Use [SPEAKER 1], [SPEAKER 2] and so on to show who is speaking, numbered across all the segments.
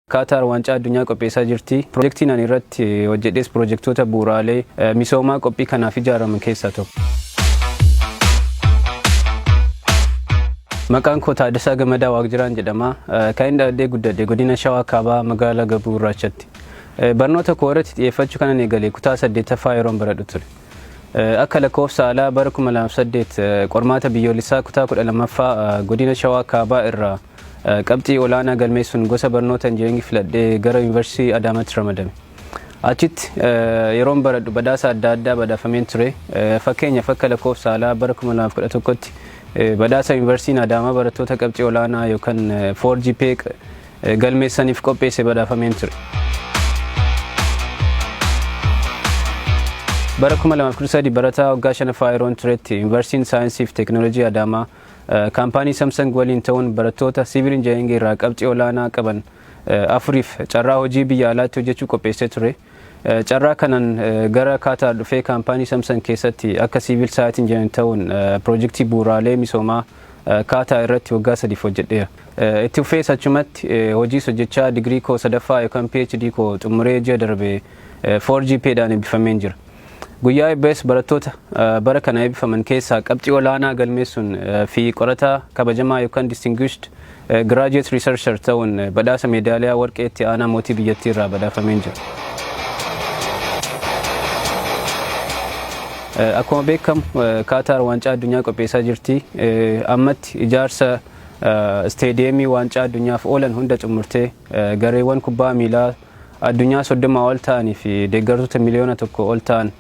[SPEAKER 1] Kaataar Waancaa Addunyaa qopheessaa jirti. Pirojektiin ani irratti hojjedhees pirojektoota bu'uuraalee misoomaa qophii kanaaf ijaaraman keessaa tokko. Maqaan koo Taaddasaa Gamadaa Waaqjiraan jedhama. Kan inni dhaladhee guddadhe godina Shawaa Kaabaa magaalaa Gabuu Gurraachatti. Barnoota koo irratti xiyyeeffachuu kanan eegale kutaa saddeettaffaa yeroon baradhu ture. Akka lakkoofsa alaa bara 2008 qormaata biyyoolessaa kutaa 12ffaa godina Shawaa Kaabaa irraa Qabxii olaanaa galmeessuun gosa barnoota Injinariingii filadhee gara Yuunivarsiitii Adaamaatti ramadame. Achitti yeroon baradhu badhaasa adda addaa badhaafameen ture. Fakkeenyaaf akka lakkoofsa haalaa bara 2011tti badhaasa Yuunivarsiitiin Adaamaa barattoota qabxii olaanaa yookaan 4GPA galmeessaniif qopheesse badhaafameen ture. Bara 2013 barataa waggaa shanaffaa yeroon turetti Yuunivarsiitiin Saayinsii fi Teekinooloojii Adaamaa Kaampaanii Samsung waliin ta'uun barattoota Siivil Injinariingii irraa qabxii olaanaa qaban afuriif carraa hojii biyya alaatti hojjechuu qopheessee ture. Carraa kanaan gara Kaataar dhufee kaampaanii Samsung keessatti akka Siivil Saayit Injinariin ta'uun piroojektii bu'uuraalee misoomaa Kaataa irratti waggaa sadiif hojjedheera. Itti fufees achumatti hojiis hojjechaa digirii koo sadaffaa yookaan PhD koo xumuree ji'a darbe 4 GPA dhaan eebbifameen jira. Guyyaa eebbaas barattoota bara kana eebbifaman keessaa qabxii olaanaa galmeessuun fi qorataa kabajamaa yookaan distinguished graduate researcher ta'uun badhaasa meedaaliyaa warqee itti aanaa mootii biyyattii irraa badhaafameen jira. Akkuma beekamu Kaataar waancaa addunyaa qopheessaa jirti. Ammatti ijaarsa isteediyeemii waancaa addunyaaf oolan hunda xumurtee gareewwan kubbaa miilaa addunyaa 30 ol ta'anii fi deeggartoota miliyoona 1 ol ta'an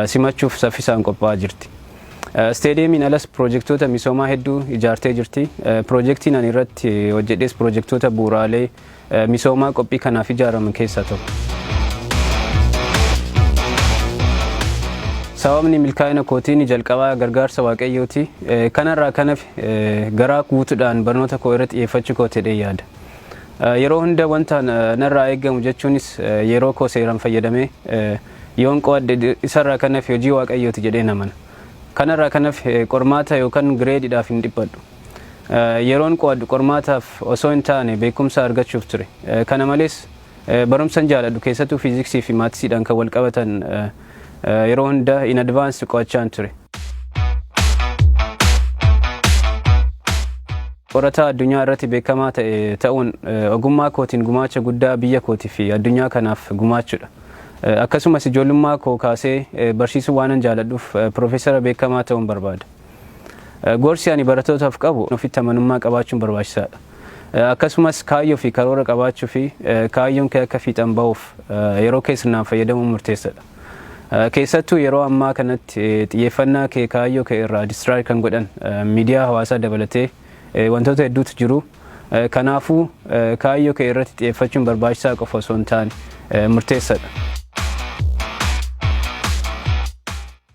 [SPEAKER 1] simachuuf saffisaan qophaa'aa jirti. Isteediyeemiin alas piroojektoota misoomaa hedduu ijaartee jirti. Piroojektiin ani irratti hojjedhees piroojektoota bu'uuraalee misoomaa qophii kanaaf ijaaraman keessaa tokko. Sababni milkaa'ina kootiin jalqabaa gargaarsa Waaqayyooti. Kanarraa kan hafe garaa guutuudhaan barnoota koo irratti xiyyeeffachuu kooti jedhee yaada. Yeroo hunda wanta narraa eegamu jechuunis yeroo koo seeraan fayyadamee yoon qo'adhe isarraa kan hafe hojii Waaqayyooti jedheen amana. Kanarraa kan hafe qormaata yookan gireediidhaaf hin dhiphadhu. Yeroon qo'adhu qormaataaf osoo hin taane beekumsa argachuuf ture. Kana malees Barumsan jaaladhu keessatu physics fi maths dhaan kan wal qabatan yeroo hunda in advance qo'achaan ture. Qorataa addunyaa irratti beekamaa ta'e ta'uun ogummaa kootiin gumaacha guddaa biyya kootii fi addunyaa kanaaf gumaachudha. Akkasumas ijoollummaa koo kaasee barsiisuu waanan jaaladhuuf piroofeesara beekamaa ta'uun barbaada. Gorsi ani baratootaaf qabu ofitti amanummaa qabaachuun barbaachisaadha. Akkasumas kaayyoo fi karoora qabaachuu fi kaayyoon kee akka fiixan ba'uuf yeroo kee sirnaan fayyadamuun murteessadha. Keessattuu yeroo ammaa kanatti xiyyeeffannaa kee kaayyoo kee irraa distiraay kan godhan miidiyaa hawaasaa dabalatee wantoota hedduutu jiru. Kanaafuu kaayyoo kee irratti xiyyeeffachuun barbaachisaa qofa osoo hin taane murteessadha.